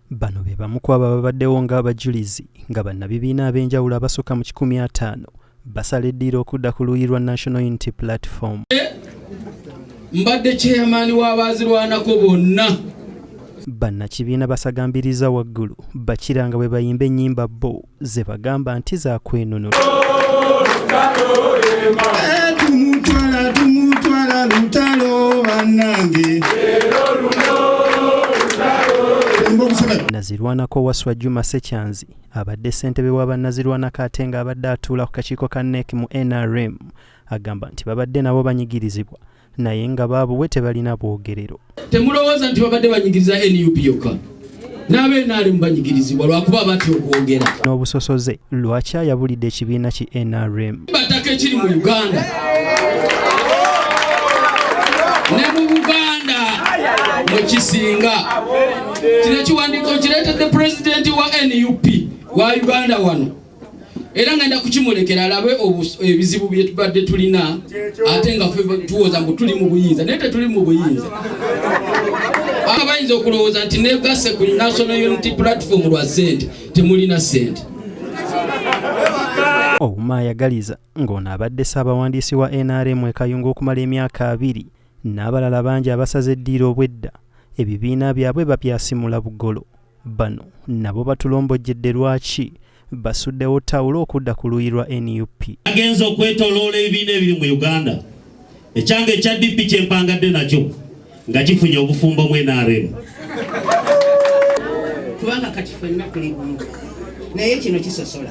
bano be bamu ku aba babaddewo ng'abajulizi nga bannabibiina ab'enjawulo abasukka mu kikumi ataano basala eddiiro okudda ku luuyi lwa national unity platform mbadde chairman w'abaazirwanako bonna bannakibiina basagambiriza waggulu bakira nga bwe bayimba ennyimba bo ze bagamba nti zakwenunula nazirwanako waswa juma sekyanzi abadde ssentebe wa bannazirwanako ate ng'abadde atuula ku kakiiko ka nek mu nrm agamba nti babadde nabo banyigirizibwa naye nga baabuwe tebalina bwogerero. Temulowooza nti babadde banyigiriza nup yokka n'abenaalimu banyigirizibwa lwakuba batya okwogera n'obusosoze lwaki ayabulidde ekibiina ki nrm bataka ekiri mu uganda ne mu buganda mwekisinga kino ekiwandiiko kireetedde pulezidenti wa nup wa uganda wano era ngenda kukimulekera alabe ebizibu byetubadde tulina ate nga tuwoza mbu tuli mu buyinza naye tetuli mu buyinza aba bayinza okulowooza nti negase ku national unity platform lwa sente temulina sente ouma ayagaliza ng'ono abadde ssaabawandiisi wa nrm ekayunga okumala emyaka abiri n'abalala bangi abasaze eddiiro obwedda ebibiina byabwe babyasimula bugolo bano nabo batulombojjedde lwaki basuddewo tawulo okudda ku luuyi lwa nup agenza okwetoloola ebibiina ebiri mu uganda ekyange ekya dp kyempangadde nakyo nga kifunye obufumbo mu nrm kubanga kati fenna tuli bumu naye kino kisosola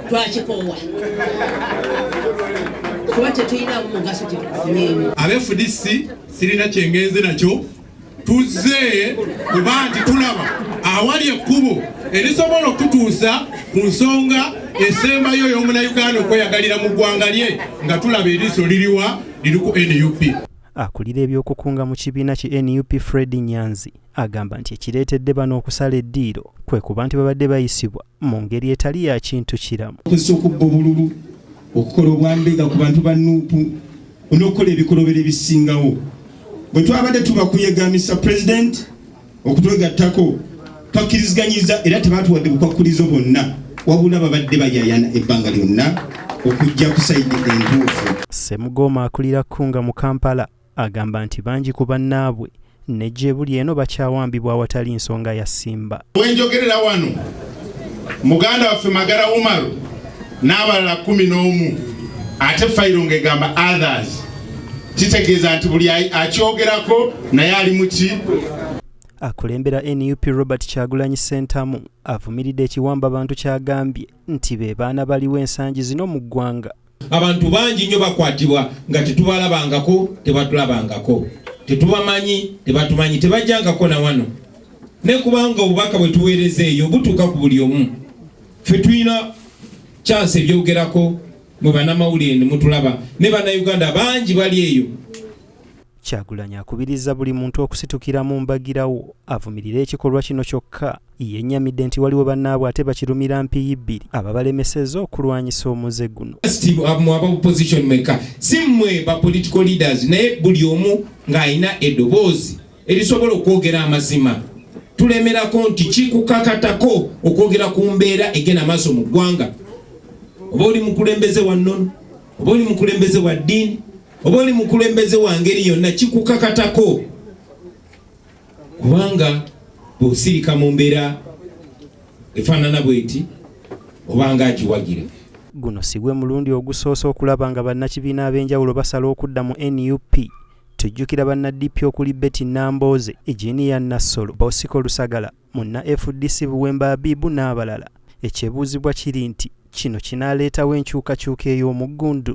twakikoowa kuba tetuyinamu mugaso kyetukufunyemu abefudisi sirina kyengenze nakyo tuzze kuba nti tulaba awali ekkubo erisobola okututuusa ku nsonga esembayo y'omunayuganda okweyagalira mu ggwanga lye nga tulaba eriiso liriwa liri ku nup akulira ebyokukunga mu kibiina ki nup fred nyanzi agamba nti ekireetedde bano okusala eddiiro kwe kuba nti babadde bayisibwa mu ngeri etali ya kintu kiramu. Okozesa okubba obululu, okukola obwambega ku bantu ba nuupu n'okukola ebikolobero ebisingawo. Bwe twabadde tubakuyega Mr President okutwegattako twakkiriziganyiza era tebaatuwadde bukwakkulizo bwonna wabula babadde bayayana ebbanga lyonna okujja ku sayidi entuufu. Ssemugoma akulira Kunga mu Kampala. Agamba nti bangi ku bannaabwe ne gyebuli eno bakyawambibwa awatali nsonga ya ssimba. Wenjogerera wano muganda waffe Magara Umaru n'abalala kumi n'omu ate fayiro ng'egamba others kitegeeza nti buli akyogerako naye ali muki akulembera nup robert kyagulanyi sentamu avumiridde ekiwamba bantu kyagambye nti be baana baliwo ensangi zino mu ggwanga Abantu bangi nnyo bakwatibwa nga tetubalabangako, tebatulabangako, tetubamanyi, tebatumanyi, tebajjangako na wano. Ne kubanga obubaka bwe tuweereza eyo butuuka ku buli omu. Ffe tulina kyansi ebyogerako mwe banamawulire ne mutulaba ne bannayuganda bangi bali eyo. Kyagulanyi akubiriza buli muntu okusitukiramu mbagirawo avumirire ekikolwa kino kyokka yennyamidde nti waliwo bannaabwe ate bakirumira mpiyi bbiri ababalemesezza okulwanyisa omuze guno mu aba opposition mwekka si mmwe ba political leaders naye buli omu ng'alina eddoboozi erisobola okwogera amazima tulemerako nti kikukakatako okwogera ku mbeera egenda maaso mu ggwanga oba oli mukulembeze wa nnono oba oli mukulembeze wa ddiini oba oli mukulembeze wa ngeri yonna kikukakatako kubanga bw'osirika mu mbeera efaanana bweti oba nga agiwagira guno si gwe mulundi ogusoose okulaba nga bannakibiina ab'enjawulo basala okudda mu nup tujjukira bannadipi okuli betty nambooze ejiniya nassolo bosiko lusagala munna fdc buwemba abibu n'abalala ekyebuuzibwa kiri nti kino kinaaleetawo enkyukakyuka ey'omuggundu